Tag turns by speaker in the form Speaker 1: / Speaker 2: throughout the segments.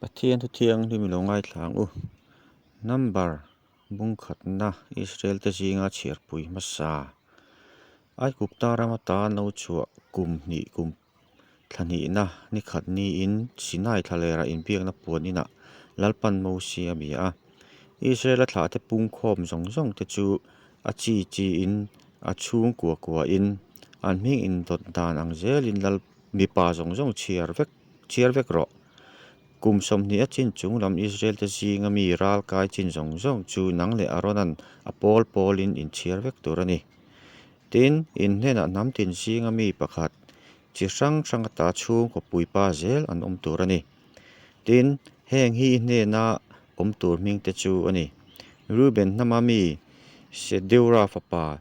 Speaker 1: Pathian Thuthiang hlim ilo ngaithlang u. Number bungkhatna Israel te zinga chhiarpui hmasa Aikuk tarama tan lo chhuah kum hnih kum thlahnihna nikhat niin Sinai thlalera inbiakna puan inah Lalpan Mose a bia a. Israela thlahte pungkhawm zawng zawng te chu a chi chi in a chhung kua kua in an hming indawt dan ang zelin Lal mipa zawng zawng chhiar vek Chiar vek rawh. Kum sawmhnih a chin chung lam Israel-te zinga mi ral kai chin zawng zawng chu nang leh Arona'n a pawl pawlin inchhiar vek tur a ni. Tin, in hnenah hnam tin zinga mi pakhat chi hrang hranga ta chhungkaw puipa zel an awm tur a ni. Tin, heng hi i hnena awm tur hmingte chu a ni, Reuben hnama mi Sedeur-a fapa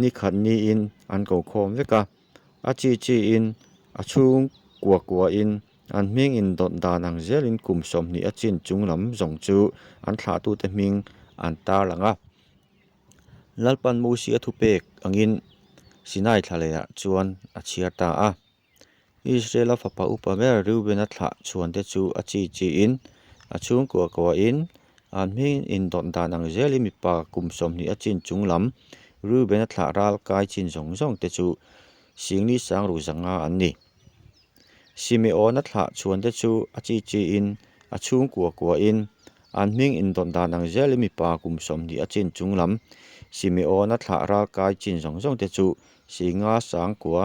Speaker 1: ni khat niin an ko khawm vek a, a chi chi in, a chhung kua kua in, an hming indawn dan ang zel in kum sawmhnih a chin chung lam zawng chu an thlah tu te hming an tarlang a. Lalpan Musi a thupek angin Sinai thla leh ah chuan a chhiar ta a. Israela fapa upa ber Reubena thlah chuante chu a chi chiin a chhungkua kuahin, An hmingin indawt dan ang zel i mipa kum sawmhnih a chin chung lam Reubena thlah ral kai chin zawng zawng te chu Singni sangruk zanga an ni. Simeona thlah chuante chu a chi chiin a chhungkua kuahin, An hmingin indawt dan ang zel i mipa kum sawmhnih a chin chung lam Simeona thlah ral kai chin zawng zawng te chu Singa sangkua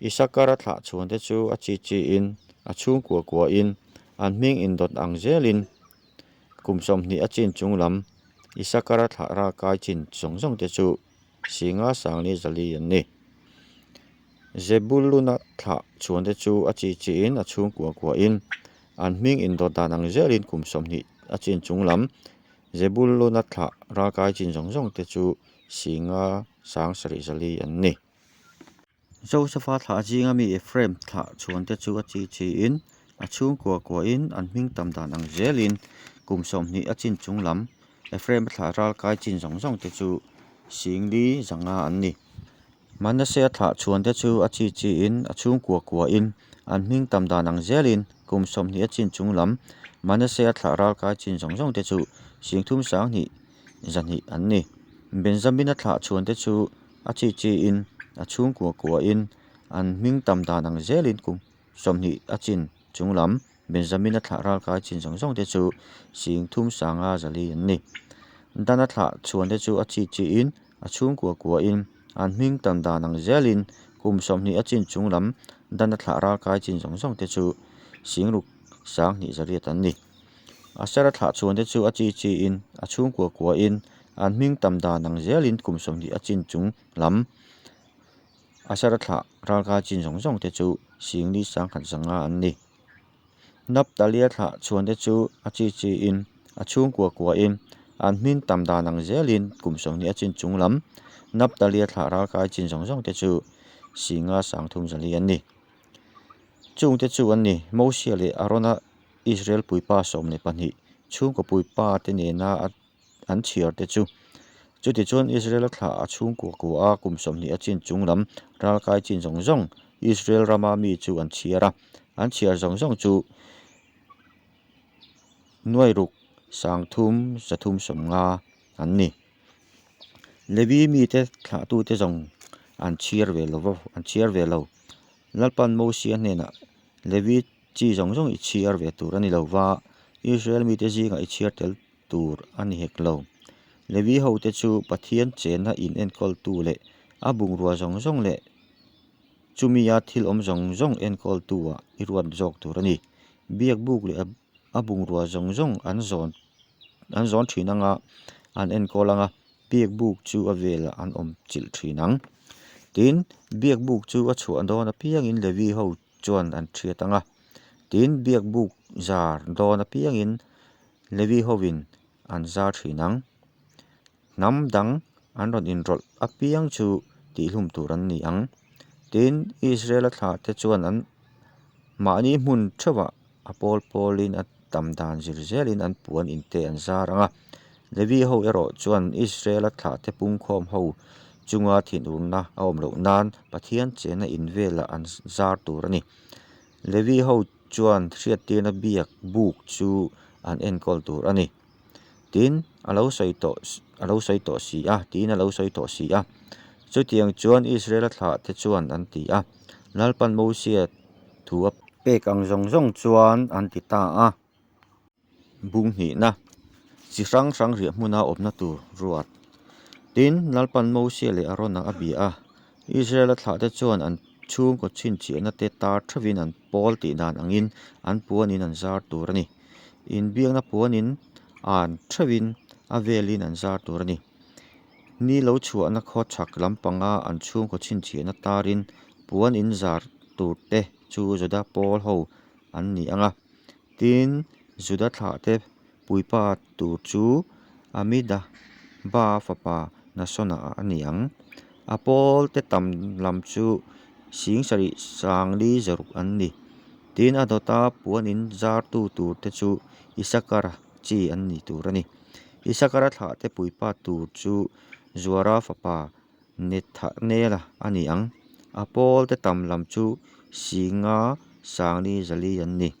Speaker 1: Isakara thlah chhunte chu a chi chiin, a chhungkua kuain, an hming indawt ang zelin, kum sawmhnih a chin chung lam, Isakara thlah ral kai chin zawng zawngte chu Singa sangni zali an ni. Zebuluna thlah chhunte chu a chi chiin, a chhungkua kuain, an hming indawt dan ang zelin, kum sawmhnih a chin chung lam, Zebuluna thlah ral kai chin zawng zawngte chu Singa sang sarih zali an ni. Josefa thlah zinga mi Efraim thlah chuante chu a chi chiin, a chhungkua kuain an hming tam dan ang zelin kum sawmhnih a chin chung lam Efraima thlah ral kai chin zawng zawng te chu singli zanga an ni. Manasea thlah chuante chu a chi chiin, a chhungkua kuain an hming tam dan ang zelin kum sawmhnih a chin chung lam Manasea thlah ral kai chin zawng zawng te chu singthum sanghnih zahnih an ni. Benjamina thlah chhuante chu a chi chiin, a chhungkua kuahin an hming tam dan ang zelin kum sawmhnih a chin chung lam. Benjamina thlah ralkai chin zawng zawng te chu sing thum sanga zali an ni. Dana thlah chhuante chu a chi chiin, a chhungkua kuahin an hming tam dan ang zelin kum sawmhnih a chin chung lam. Dana thlah ralkai chin zawng zawng te chu sing ruk sang hnih zariat an ni. A sara thlah chuan te chu a chi chi in, a chhung kua kua in, an hming tam dan ang zel in kum sawmhnih a chin chung lam a sara thlah ralkai chin zawng zawng te chu sing ni sang khat zanga an ni. Naptalia thlah chuan te chu a chi chi in, a chhung kua kua in, an hming tam dan ang zel in kum sawmhnih a chin chung lam Naptalia thlah ralkai chin zawng zawng te chu singa sang thum zali an ni. Chung te chu an ni, Mosia leh Arona. Israel puipa sawm leh pahnih chhungkaw puipa te nena an chhiar te chu. Chuti chuan Israel-a thla a chhungkaw kaw a kum sawmhnih a chin chung lam ral kai chin zawng zawng Israel rama mi chu an chhiar a, an chhiar zawng zawng chu Nuairuk, Sangthum, Zathum sawmnga an ni. Levi mi te thlah tu te zawng an chhiar ve lo, an chhiar ve lo. Lalpan Mosea hnenah Levi Chi zawng zawng i chhiar ve tur a ni lo va, Israel mite zingah i chhiar tel tur a ni hek lo. Levi hote chu Pathian chenna inenkawl-tu leh a bungrua zawng zawng leh chumi a thil awm zawng zawng enkawl-tuah i ruat zawk tur a ni. Biakbuk leh a bungrua zawng zawng an zawn an zawn thin anga an enkawl anga, biakbuk chu a velah an awm chilh thin ang. Tin, biakbuk chu a chhuah dawn apiangin Levi ho chuan an ṭhiat ang a. Tiin biak buk zar dawn apiangin Levi hovin an zar ṭhin ang. Hnam dang an rawn inrawlh apiang chu tihhlum tur an ni ang. Tiin Israela thlahte chuan an mahni hmun ṭheuhah A pawl pawlin a tam dan zir zelin an puan inte an zar ang a. Levi ho erawh chuan Israela thlahte pungkhawm ho chunga thinurna a awm loh nan Pathian chena in velah an zar tur a ni. Levi ho chuan hriattirna biak buk chu an enkawl tur a ni. tin a lo sawi tawh a lo sawi tawh si a tiin a lo sawi tawh si a chutiang chuan Israel a thlah te chuan an ti a lalpan Mosea thu a pek ang zawng zawng chuan an ti ta a bunghnihna chi hrang hrang riah hmuna awmna tur ruat tin lalpan Mosea leh Arona a bia a. Israel-a thlahte chuan an chhungkaw chhinchianate tar theuhin an pawl tih dan angin an puanin an zar tur a ni. Inbiakna puanin an theuhin a velin an zar tur a ni. Ni lo chhuahna khawchhak lampanga an chhungkaw chhinchiahna tarin puan inzar turte chu Juda pawl ho an ni ang a. Tin, Juda thlahte Puipa tur chu Amida ba fapa Nasona a ni ang. A pawlte tam lam chu Singsarih Sangli Zaruk an ni. Tin a dawta puan in zartu tur te chu Isakara chi an nih tur a ni. Isakara thlah te puipa tur chu Zuara fapa Nethanela a ni ang. A pawlte tam lam chu Singa Sangli Zali an ni.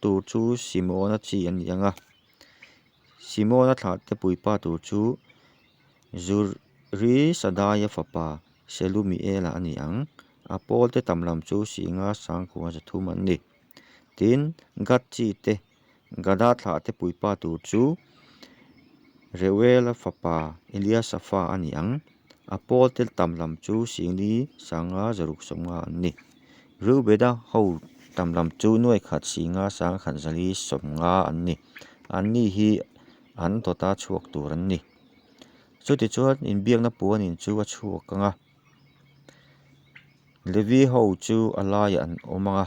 Speaker 1: Tur chu Simona chi a ni ang a. Simona thlahte puipa tur chu Zurisadaya fapa Selumiela a ni ang. A pawlte tam lam chu Singa sangkua zathum an ni. Tin, Gad chi te, Gada thlahte puipa tur chu Reuela fapa Eliasafa a ni ang. A pawl tel tam lam chu Singli sanga zaruk sawmnga an ni. Reubeda ho tam lam chu nuaihkhat Singa sanga khatzali sawmnga an ni. An ni hi an dawta chhuak tur an ni. Chuti chuan inbiakna puanin chu a chhuak anga. Levi ho chu a laiah an awm anga.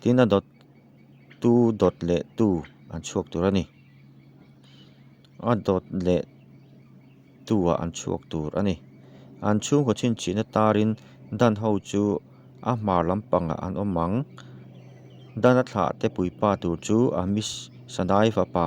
Speaker 1: Tin a dawt tu dawt leh tu an chhuak tur a ni. A dawt leh tu ah an chhuak tur a ni. An chhungkaw chhinchihna tarin Dan ho chu a hmar lampangah an awm ang. Dan a thlah te puipa tur chu a miss Sadai fapa.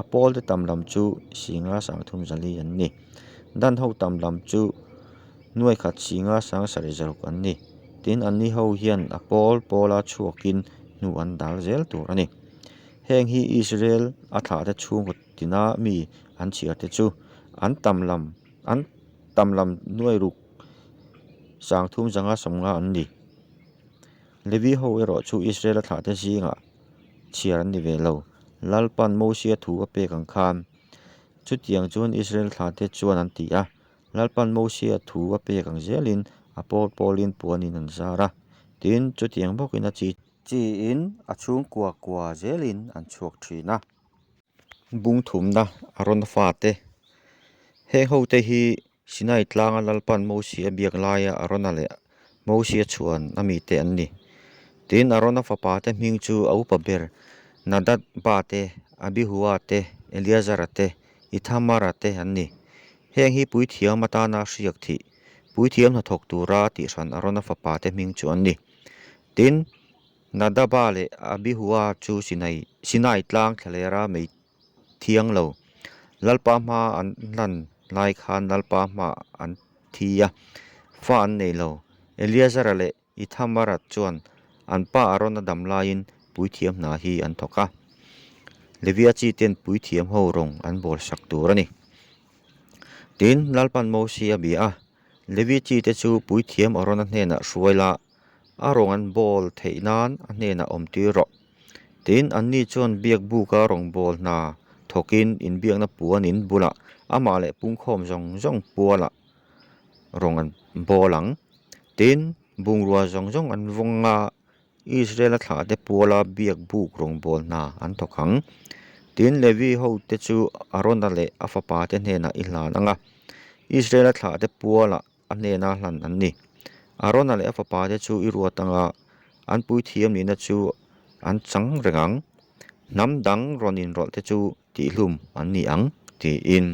Speaker 1: a pawl te tam lam chu singa sang thum zali an ni dan ho tam lam chu nuai khat singa sang sarih zawk an ni tin an ni ho hian a pawl pawl a chhuak in hnu an dal zel tur a ni heng hi Israel a thlah te chhung kut tin a mi an chhiar te chu an tam lam an tam lam nuai ruk sang thum zanga sawmnga an ni. Levi ho erawh chu Israela thlahte zingah chhiar an ni ve lo. Lalpa'n Mosea thu a pek ang khan, chutiang chuan Israel thlahte chuan an ti a, Lalpa'n Mosea thu a pek ang zelin a pawl pawlin puanin an zar a, tin, chutiang bawkin a chi. Chi in a chhungkua kua zelin an chhuak thin a. Bungthumna a rawn fate, heng hote hi Sinai Tlanga Lalpan Mosi a biak laia Arona leh Mosi a chhuan a mite an ni. Tin, Arona fapa te hming chu a upa ber Nadadba te, Abihua te, Eliazara te, Ithamara te an ni. Heng hi puithiam atana a hriak thih, puithiam hnathawk tura tihran Arona fapa te hming chu an ni. Tin, Nadaba leh Abihua chu Sinai Sinai Tlang thlalera mei thiang lo. Lalpa hma an hlan lai khan Lalpa hmah an thi a, fa an nei lo. Eliazara leh Ithamara chuan an pa Arona dam laiin puithiam hna hi an thawk a, Levia chi ten puithiam ho rawn an bawlsak tur a ni. Tin, Lalpan Mose a bia a, Levi chi te chu puithiam Arona hnenah hruai la A rawn an bawl theih nan a hnenah awm tir rawh. Tin, anni chuan biakbuka rawn bawl hna thawkin inbiakna puan in bulah amah leh pungkhawm zawng zawng pualah rawn an bawl ang. Tin, bungrua zawng zawng an vawng a, Israela thlah te puala biakbuk rawn bawl hna an thawk ang. Tin, Levi hote chu Arona leh a fapa te hnenah i hlan anga Israela thlah te pualah A hnena hlan an ni. Arona leh a fapa te chu i ruat anga an puithiam nihna chu an chang reng ang, hnam dang rawn inrawlh te chu tihhlum an ni ang, tiin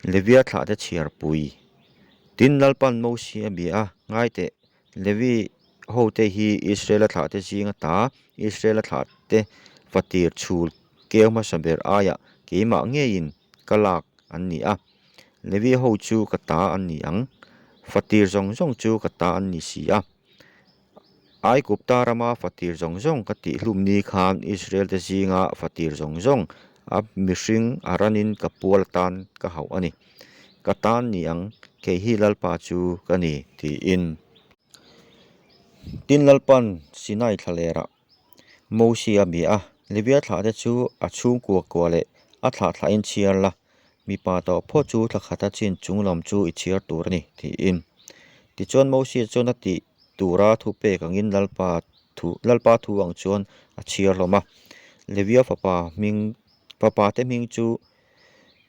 Speaker 1: Levia thlahte chhiarpui. Tin Lalpan Mosea bia a ngai teh. Levi hote hi Israela thlahte zinga ta, Israela thlahte fatir chhul keu hmasa ber aia keimah ngeiin ka lak an ni a. Levi ho chu ka ta an ni ang, fatir zawng zawng chu ka ta an ni si a. Aigupta rama fatir zawng zawng ka tih hlumni khan Israelte zinga fatir zawng zawng a mihring a ranin ka pual atan ka hauh a ni. ka tan ni ang, kei hi Lalpa chu ka ni, tiin. Tin Lalpa'n Sinai thla lerah Mawsi a bia a, Levia thlah te chu a chhungkua kua leh a thlah thlah in chhiar la, mipa tawh phaw chu thla khata chin chung lam chu i chhiar tur a ni, tiin. Tichuan Mawsi chuan a tih tura thu pek angin Lalpa thu Lalpa thu ang chuan a chhiar hlawm a, Levia fapa hming fapate hming chu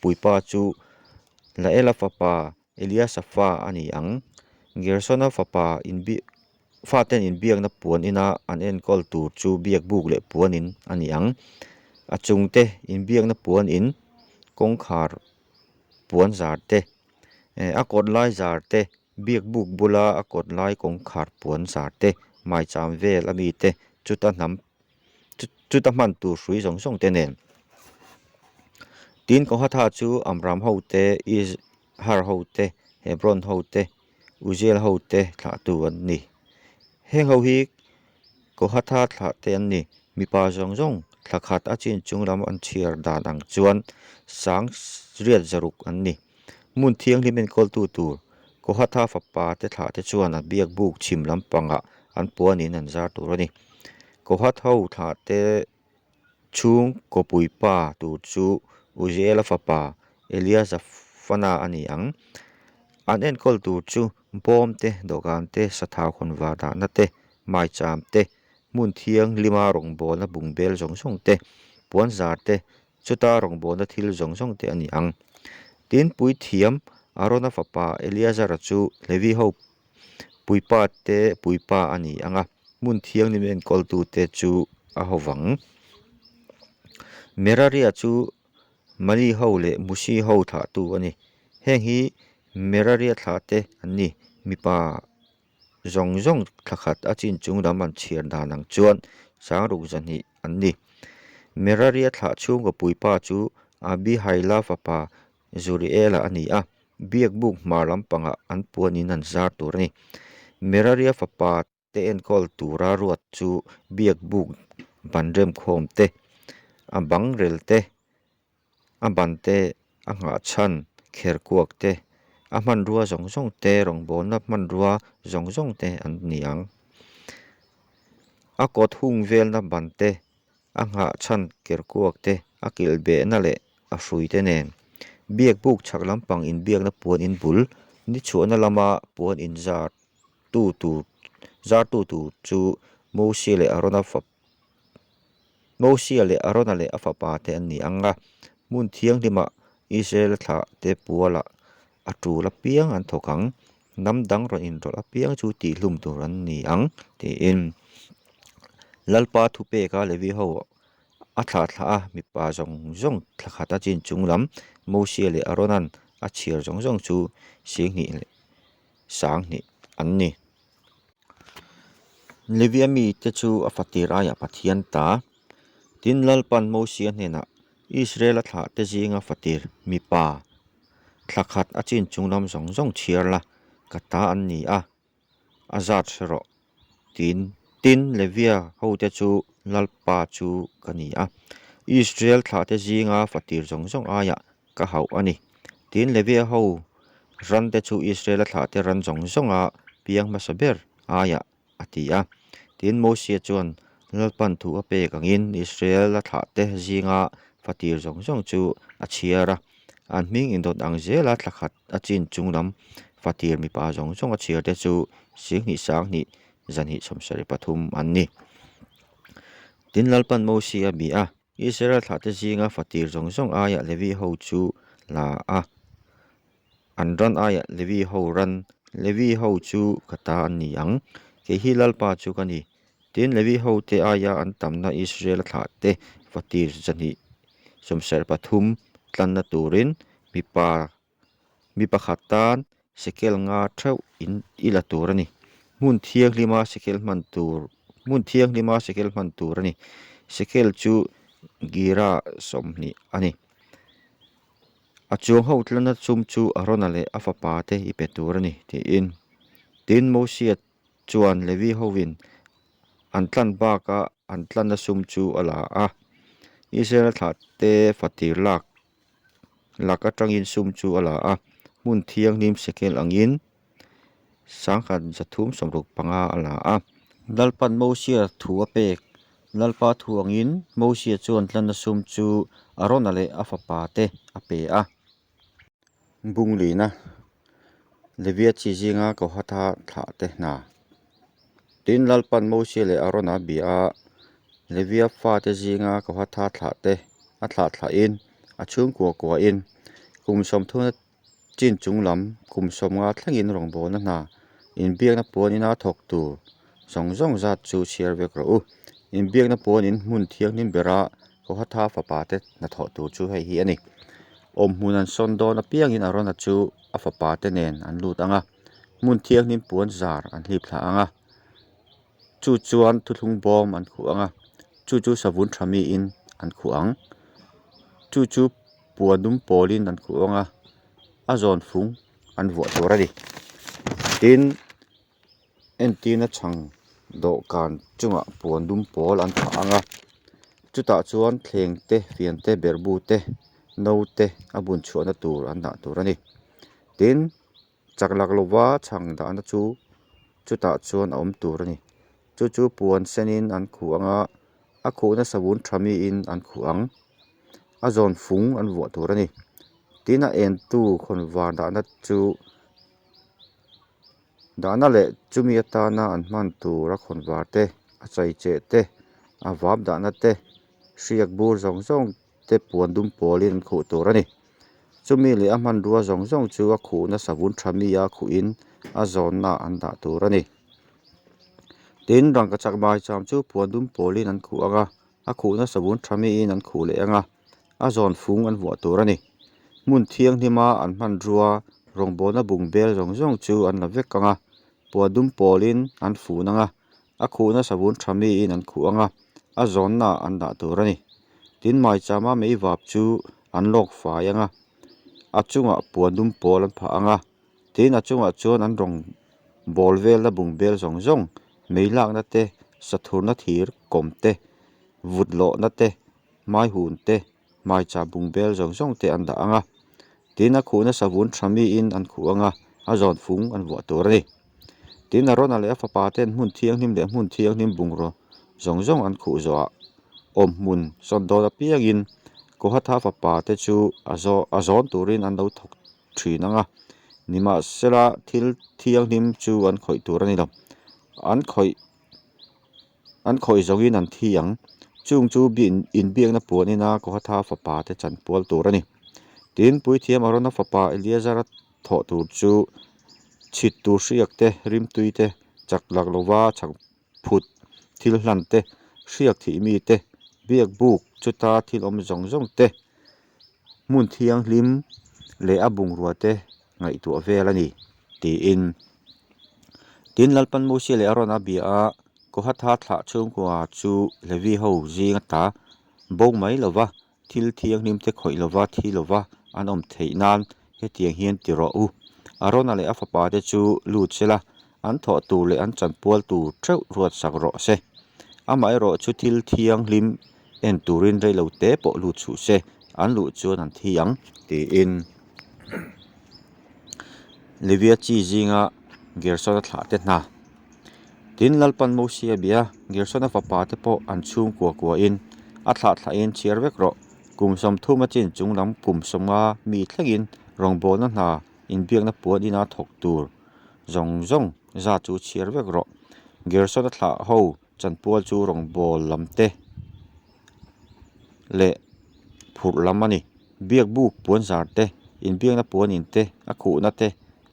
Speaker 1: puipa chu Laela fapa Eliasa fa a ni ang. Gersona fapa inbiak faten inbiakna puan ina an enkawl tur chu biakbuk leh puan in a ni ang. A chungte inbiakna puan in kawngkhar puan zar te, a kawt lai zar te Biakbuk bula a kawt lai kawngkhar puan zar te, maicham vel a mi te, chuta hnam chuta hman tur hrui zawng zawng te nen. Tin Kohatha chu Amram ho te, Izhar ho te, Hebron ho te, Uziel ho te thlahtu an ni. Heng ho hi Ko Hatha thlah te an ni. Mipa zawng zawng thla khat a chin chung lam an chhiar dan ang chuan sang riat zaruk an ni. Hmun thianghlim enkawltu tur Ko Hatha fapa te thlah te chuan a biak buk chhim lampangah an puanin an zar tur a ni. Ko Hatha thlah te Chhung khawpui pa tur chu Uziela fapa Eliasafana a ni ang. An enkawl tur chu bawm te, dawhkan te, sathau hawn vah dahna te, maicham te, hmun thianglima rawngbawlna bungbel zawng zawng te, puanzar te, chuta rawngbawlna thil zawng zawng te a ni ang. Tin, puithiam Arona fapa Eliasara chu Levi ho Puipa te Puipa a ni ang a, hmun thiangnim enkawl-tu te chu a ho vang. Meraria chu Mali ho leh Musi ho thlah tu a ni. Heng hi Meraria thlah te an ni. Mipa zawng zawng thla khat a chin chung lam an chhiar dan ang chuan Changruk zahnih an ni. Meraria thlah chhunga Puipa chu Abihayla fapa Zuriela a ni a, biak buk hma lampangah an puanin an zar tur a ni. Meraria fapa te enkawl tura ruat chu biak buk ban remkhawm te, a bang rel te, a ban te a nghah chhan kher kuak te, a hmanrua zawng zawng te, rawngbawlna hmanrua zawng zawng te an ni ang. A kawt hung velna ban te a nghah chhan ker kuak te, a kilh behna leh a hrui te nen. Biak buk chhak lampang inbiakna puan in bul nichhuahna lama puan in zar tu tur zar tu tur chu Mosia leh Arona fapa Mosia leh Arona leh a fapa te an ni ang a, hmun thianghlimah Israela thlah te puala a tul apiang an thawk ang. hnam dang rawn inrawlh apiang chu tih hlum tur an ni ang tiin Lalpa thu peka Levi ho a thlah thlah a, mipa zawng zawng thla khat a chin chung lam Mosea leh Aronan a chhiar zawng zawng chu sing hnih leh sang hnih an ni. Levia mite chu a fatir aiah Pathian ta tin Lalpan Mosea hnenah Israel a thlah te zinga fatir mipa thla khat a chin chung lam zawng zawng chhiar la ka ta an ni a, a zat hre rawh tiin. Tin, Levia hote chu lalpa chu ka ni a, Israel thlah te zinga fatir zawng zawng aia ka hauh a ni. Tin, Levia ho ran te chu Israel a thlah te ran zawng zawnga piang hmasa ber aia a ti a. Tin, Mosea chuan Lalpan thu a pek angin Israela thlahte zinga fatir zawng zawng chu a chhiar a. An hming indawt ang zela thla khat a chin chung lam fatir mipa zawng zawng a chhiarte chu Sianghnih Sanghnih zanhih sawmsarih pathum an ni. Tin, Lalpan Mosea bih a. Israela thlahte zinga fatir zawng zawng aiah Levi ho chu la a An ran aia Levi ho ran, Levi ho chu ka ta an ni ang, kei hi Lalpa chu ka ni. Tin, Levi hote aia an tamna Israel-a thlah te va tir chahnih sawmserh pathum tlanna turin mipa mi pakhat tan sekel nga theuh in i la tur a ni. Hmun thianglima sekel hman tur, hmun thianglima sekel hman tur a ni. Sekel chu gira sawmhnih a ni. A chuang ho tlana chum chu Arona leh a fapa te i pe tur a ni, tiin. Tin, Mosea chuan Levi hoin an tlan baka an tlana sum chu a la a. Israela thlahte fatir lak lak atangin sum chu a la a, hmun thianghlim Sekel angin Sangkhat zathum sawmruk panga a la a. Lalpa'n Mosia thu a pek. Lalpa thu angin Mosia chuan hlanna sum chu Arona leh a fapa te a pe a. Bung lihna, Levia chi zinga Kohata thlah te hna. Tin, Lalpa'n Mosia leh Arona a bia a, Levia fate zinga Kohata thlah te a thlah thlahin a chhungkua kuahin kum sawmthuna Chin chung lam kum sawm nga thlengin rawngbawlna hna inbiakna puanina thawk tur zawng zawng zat chu chhiar vek rawh u. Inbiakna puanin hmun thianghlim bera Kohatha fapa te hnathawh tur chu hei hi a ni. Awm hmun an sawn dawn apiangin Arona chu a fapa te nen an lut ang a, hmun thianghlim puan zar an hlipthlah ang a. Chu chuan thuthlung bawm an khuh ang a, chu chu savun tha miin an khuh ang. Chu chu. Puan dum pawlin an khuh vang a, a zawn fung an vuah tur a ni. Tin, entirna chhang dawhkan chungah puan dum pawl an phah ang a, chutah chuan thleng te, fian te, berbu te, no te a bunchhuahna tur an dah tur a ni. Tin. chak lak lova chhang dahna chu chutah chuan a awm tur a ni chu chu puan senin an khuh ang a a khuh na savun tha miin an khuh ang a zawn fung an vuah tur a ni tin a en tu hawn vâr dahna chu dahna leh chumi atana an hman tura khawn vâr te a chei che te a vâp dahna te hriak bur zawng zawng-- te puan dum pawlin an khuh tur a ni. Chumi leh a hmanrua zawng zawng chu a khuhna savun tha mia khuhin a zawnnaah an dah tur a ni. Tin, rangkachak maicham chu puan dum pawlin an khuh ang a, a khuhna savun tha miin an khuh leh ang a, a zawn fung an vuah tur a ni. Hmun thianghnima an hmanrua rawngbawlna bungbel zawng zawng chu an la vek ang a, puan dum pawlin an fun ang a, a khuhna savun tha miin an khuh anga a zawnnaah an dah tur a ni. Tin, Maichama mei vap chu an lawk fai anga a chungah puan dum pawl an phah anga, tin a chungah chuan an rawn bawl vel na bung bel zawng zawng, mei lakna te, sathurna thir kawm te, vut lawhna te, hmaihun te, hmaichah bung bel zawng zawng te an dah ang a, tin a khuh nasa vun tha mi in an khuh ang a, a zawn fung an vuah tur a ni. Tin Arona leh a fapa ten hmun thianghlim leh hmun thianghlim bungraw zawng zawng an khuh zawhah awm hmun sawn dawn apiang in Kohatha fapa te chu a zawn tur in an lo thawk thin ang a, ni mah se la thil thianghlim chu an khawih tur a ni lo, an khawih. An khawi zawngin an thi ang. Chung chu bian inbiakna puanina Kohatha fapa te chan pual tur a ni. Tin, Puithiam Arona fapa Eliezara thawh tur chu chhit tur hriak te, rimtui te, chak lak lova chhang phut, thil hlan te, hriak thih mi te, biak buk chuta thil awm zawng zawng te, hmun thianghlim leh a bungrua-te ngaihtuah vel a ni, tiin. Tin, Lalpan Mose leh Arona bia a Kohatha thlah chhungkua chu Levi ho zinga ta bo mai lova, thil thianghlim te khawih lova, thi lova an awm theih nan, hetiang hian ti rawh u. Arona leh a fapa te chu lut se la, an thawh tur leh an chanpual tur ṭeuh ruatsak rawh se. Amaherawh chu thil thianghlim en turin reilo te pawh lut suh se, an luh chuan an thi ang, tiin Livia chi zinga Gersona thlah te hna. Tin, Lalpan Mosia bia Gersona fapa te pawh an chhung kua kuain, A thlah thlahin chhiar vek rawh, kum sawm thum a chin chung lam kum sawma mi thlengin rawngbawlna hna inbiakna puan ina thawk tur zawng zawng zat chu chhiar vek rawh, Gersona thlah ho chanpual chu rawngbawlh lam te leh phurh lam a ni, biakbuk puan zar te, inbiakna puan in te, a khuhna te,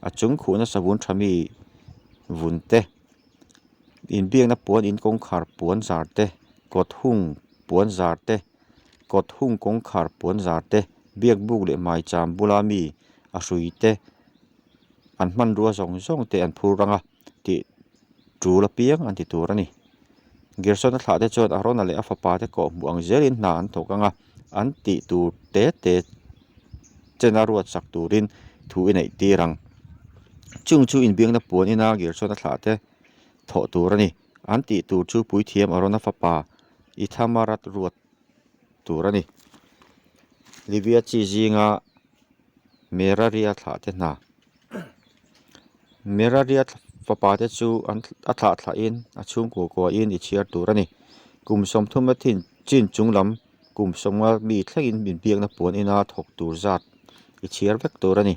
Speaker 1: a chung khuhna savun tha mi vun te in biakna puan in kawngkhar puan zar te kawt hung puan zar te kawt hung kawngkhar puan zar te biak buk leh hmaicham bula mi a hrui te an hmanrua zawng zawng te an phur rang a. tih tul apiang an ti tur a ni. Gersona thlah te chuan Arona leh a fapa te kawh hmuh ang zelin hna an thawk ang a, an tih tur te te chena ruatsak turin thu i neih tir ang. Chung chu inbiakna puan ina Gersona thlah te thawh tur a ni. An tih tur chu Puithiam Arona fapa Ithamarat ruat tur a ni. Livia chi zinga Meraria thlah te hna. Merariat fapa te chu a thlah thlah in a chhungkua kua in i chhiar tur a ni. Kum sawmthuma thin chin chung lam kum sawma mi thleng in min biakna puan ina thawk tur zat i chhiar vek tur a ni.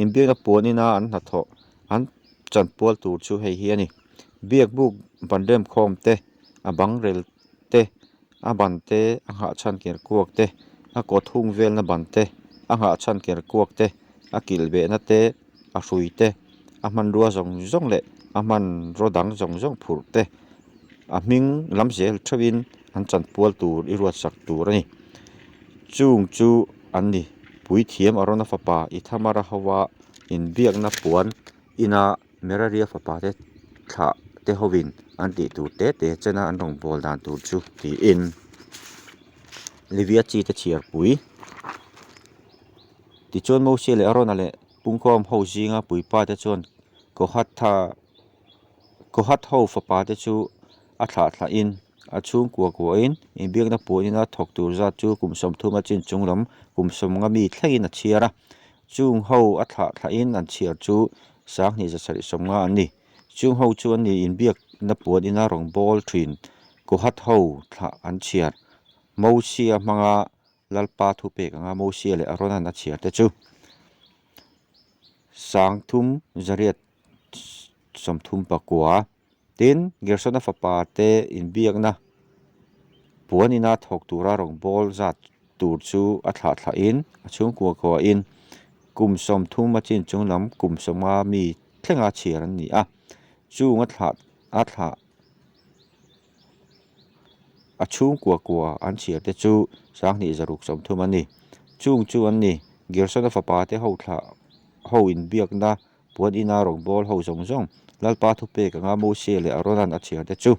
Speaker 1: In biakna puan ina an hnathawh an chan pual tur chu hei hi a ni. Biak buk ban remkhawm te a bangrel te A ban te, a nghah chhan ker kuak te, a kawt hung velna ban te, a nghah chhan ker kuak te, a kilh behna te, a hrui te, a hmanrua zawng zawng leh a hmanraw dang zawng zawng phurh te, a hming lam zel theuhin an chanpual tur i ruatsak tur a ni. Chung chu an ni, Puithiam Arona fapa Ithamara hova inbiakna puan ina Meraria fapa te thlah te hovin an tih tur te te chena an rawn pawl dan tur chu tiin Livia chi te chhiarpui. Tichuan Mosea leh Arona leh pungkhawm ho zinga puipa te chuan Kohatha Kohat ho fapa te chu a thlah thlah in a chhungkua kua in inbiakna puanina thawk tur zat chu kum sawmthuma chin chunglam kum sawmnga mi thlengin a chhiar a, Chung ho a thlah thlahin an chhiar chu Sanghnih zasarih sawm nga an ni. Chung ho chu an nih inbiak na puan ina rawngbâwl ṭhin Kohat ho thlah an chhiar. Mosia hmanga lalpa thu pek anga Mosia leh Aronan a chhiar te chu Sangthum zariat sawmthum pakua. tin Gersona fapa te inbiakna puan ina thawk tura rawn bawl zat tur chu a thlah thlahin a chhungkua kuahin kum sawm thum a chin chung lam kum sawma mi thlenga chhiar an ni a, chunga thlah a thlah a chhungkua kua an chhiar te chu Sanghnih zaruk sawm thum a ni. Chung chu an ni, Gersona fapa te ho thlah ho inbiakna Puan ina rawn bawl ho zawng zawng Lalpa thupek anga Mose leh Aronan a chhiarte chu.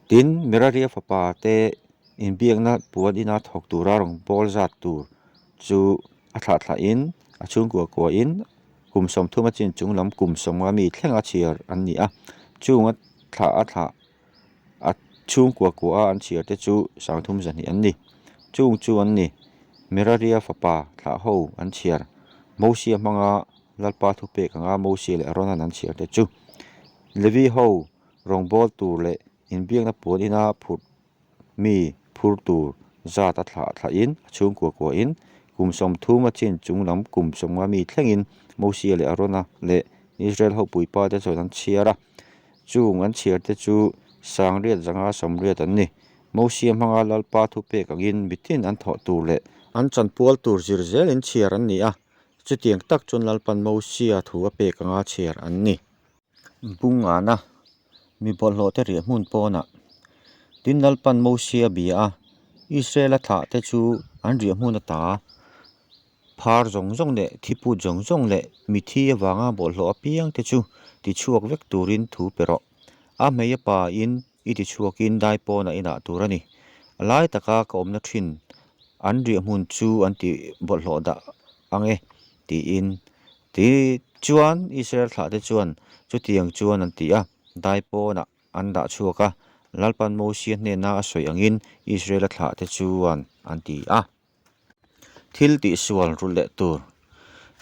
Speaker 1: Tin, Meraria fapa te inbiakna puan ina thawk tura rawn bawl zat tur chu a thlah thlahin, a chhungkua kuahin kum sawmthuma chin chunglam kum sawma mi thlenga chhiar an ni a. Chunga thlah a thlah. a chhung kua kua a an chhiar te chu Sangthum zahnih an ni. Chung chu an ni, Miraria fapa thlah ho an chhiar, Mosia hmanga Lalpa thupek anga Mosia leh Aronan an chhiar te chu. Levi ho rawngbâwl tur leh inbiakna puan ina phurh mi phur tur zat a thlah thlah in a chhung kua kua in kum sawmthum a chin chung lam kum sawmnga mi thleng in Mosia leh Arona leh Israel ho puipa te chuan an chhiar a, chung an chhiar te chu sangriat zanga sawmriat an ni. Mosia hmanga Lalpa thu pek ang in mithin an thawh tur leh. An chanpual tur zir zel in chhiar an ni a, chutiang tak chuan Lalpan Mosia thu a pek anga chhiar an ni. Bung ana mi bawlhhlawhte riah hmun pawnah tin lalpan Mosea a bia a, Israela thlahte chu an riah hmun a ta a, phar zawng zawng leh thiput zawng zawng leh mithi avanga bawlhhlawh apiangte chu tichhuak vek turin thu pe rawh. A hmei a pa in I ti chhuakin dai pawnah i nah tur a ni. A lai taka ka awmna thin an riah hmun chu an ti bawlhhlawh dah ang e, tiin ti chuan Israel thlahte chuan chutiang chuan an ti a, dai pawnah an dah chhuak a, Lalpan Mosia hnena a sawi angin Israela thlahte chuan an ti a. Thil tih sual rulh leh tur.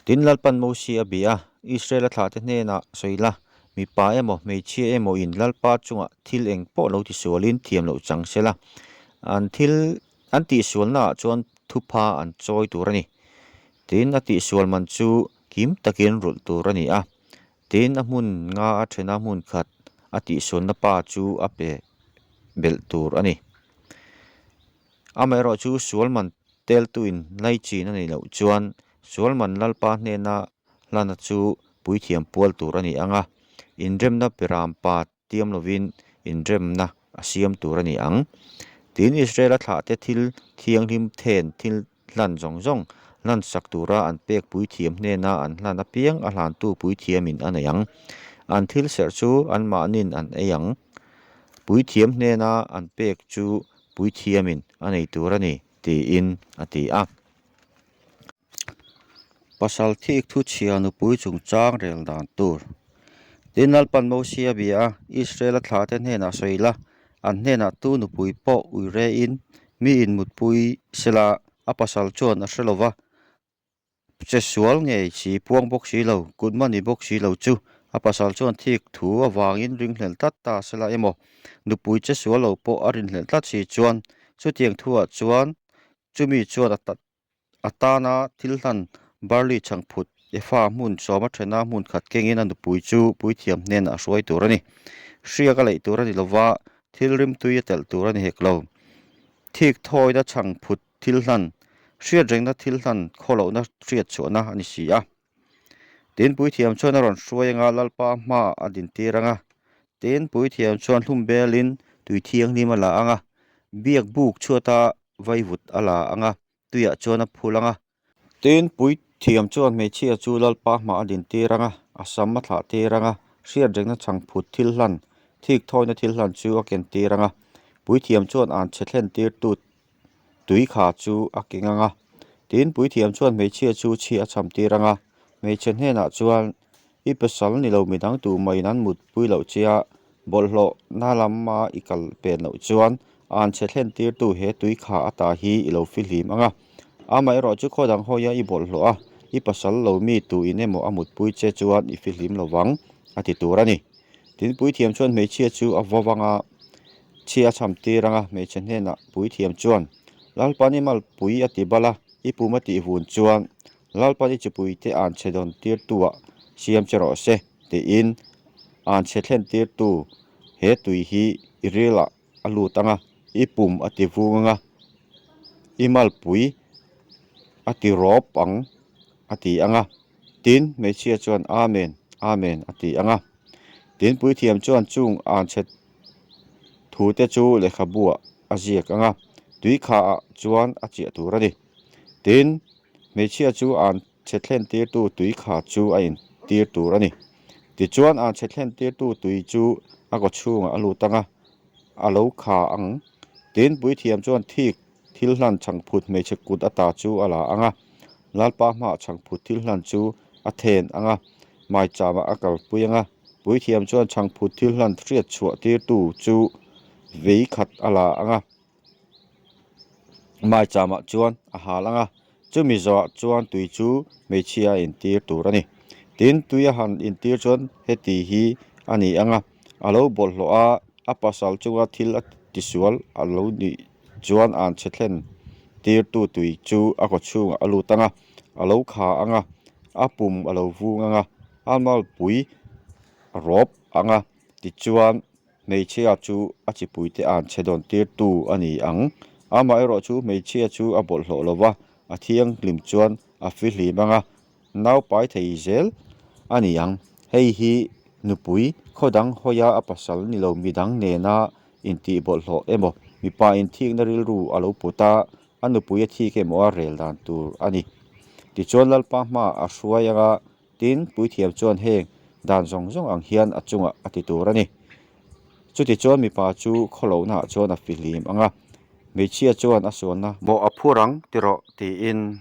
Speaker 1: Tin Lalpa'n Mosea a bia Israela thlahte hnena sawi la, mipa emaw hmeichhia emawin Lalpa chunga thil eng pawh lo ti sualin thiam loh chang se la, an thil an tih sualnaah chuan thupha an chawi tur a ni. Tin, a tih sual man chu kim takin rulh tur a ni a. Tin, a hmun nga a thena hmun khat a tih sualna pa chu a pe belh tur a ni. Amaherawh chu Sualman teltuin hlaichhin a neih loh chuan Sualman Lalpa hnena hlana chu puithiam pual tur a ni ang a, inremna peram pa tiam lovin inremna a siam tur a ni ang. Tiin Israela thlahte thil thianghlim then thil hlan zawng zawng hlansak tura an pek puithiam hnena an hlan apiang a hlantu puithiamin a nei ang. An thil serh chu anmahniin an ei ang. Puithiam hnena an pek chu puithiamin a nei tur a ni, tiin a ti a. Pasal thik thuchhia nupui chungchang rel dan tur. Tin Lalpan Mosia bia Israela thlate hnenah sawi ila An hnenah tu nupui pawh ui rein mi inmutpui sela a pasal chuan a hre lova, Che sual ngei si puang bawk si lo, kut mahni bawk si lo chu a pasal chuan thik thu avangin ringhlel tlat ta sela emaw, nupui che sual lo pawh a rinhlel tlat si chuan chutiang thu ah chuan chumi chuan a A tana thil hlan barley chhang phut Efa hmun sawma thena hmun khat kengin a nupui chu puithiam hnenah a hruai tur a ni. Hriak a leih tur a ni lova, thil rimtui a telh tur a ni hek lo. Thik thawina chhang phut thil hlan, hriatrengna thil hlan khaw lohna hriatchhuahna a ni si a. Tin puithiam chuan a rawn hruai anga Lalpa hmaah a din tir anga. Tin puithiam chuan hlum belin tui thianghlim a la anga, biak buk chhuata vaivut a la anga, tuiah chuan a phul anga. Tin puithiam chuan hmeichhia chu Lalpa hmaah a din tir anga, a sam a thlah tir anga, hriatrengna chhang phut thil hlan, thik thawina thil hlan chu a ken tir anga. Puithiam chuan an chhe thlen tirtu Tui kha chu a keng ang a. Tin, puithiam chuan hmeichhia chu chhi a chham tir ang a. Hmeichhe hnenah chuan, I pasal ni lo midang tu mahin an mut pui loh che a, bawlhhlawh na lama i kal pen loh chuan an chhe thlen tirtu he tui kha ata hi i lo fi hlim ang a. Amaherawh chu khaw dang hawia i bawlhhlawh a, i pasal lo mi tu in emaw a mut pui che chuan i fi hlim lo vang, a ti tur a ni. Tin, puithiam chuan hmeichhia chu a vaw vang a, Chhi a chham tir ang a, hmeichhe hnenah Puithiam chuan, Lalpan i mal pui a ti bal a, i puma tih vun chuan Lalpan i chipui te an chhe dawn tirtuah siam che rawh se, tiin an chhe thlen tirtu he tui hi i rilah a lut ang a, i pum a ti vung ang a, i mal pui a ti rawp ang a ti ang a, tin hmeichhia chuan Amen, Amen a ti ang a. Tin Puithiam chuan chung an chhet thu te chu lehkhabuah a ziak anga tui kha ah chuan a chiah tur a ni. Tin, hmeichhia chu an chhe thlen tirtu tui kha chu a in tir tur a ni. Tichuan an chhe thlen tirtu tui chu a kawchhungah a lut anga a lo kha ang. Tin, Puithiam chuan thik Thil hlan chhangphut hmeichhe kut a ta chu a la ang a, Lalpa hma chhangphut thil hlan chu a then ang a, Maichama a kalpui ang a. Puithiam chuan chhangphut thil hlan hriat chhuah tirtu chu vei khat a la ang a, Maichama chuan a hal ang a. Chumi zawhah chuan tui chu hmeichhia intir tur a ni. Tin, tui a han intir chuan heti hi a ni ang a, a lo bawlhhlawh a, a pasal chunga thil a tisual a lo nih chuan an che thlen tirtu tui chu a kawchhungah a lut ang a, a lo kha ang a, a pum a lo vung ang a, a malpui a rawp ang a tichuan Hmeichhia chu a chipuite an che dawn tir tu a ni ang. Amaherawh chu hmeichhia chu a bawlh hlawh lo va, a thianghlim chuan a fihlim ang a, naupai thei zel a ni ang. Hei hi nupui khaw dang hawia a pasal ni lo midang nena intihbawlh hlawh emaw, mipa inthikna rilru a lo put a, a nupui a thik emaw a rel dan tur a ni. Tichuan Lalpa hma a hruai anga Tin, Puithiam chuan heng dan zawng zawng ang hian a chungah a ti tur a ni. Chutichuan mipa chu khaw lohnah chuan a fihlim ang a, hmeichhia chuan a sualna. Maw a phur ang ti rawh, tiin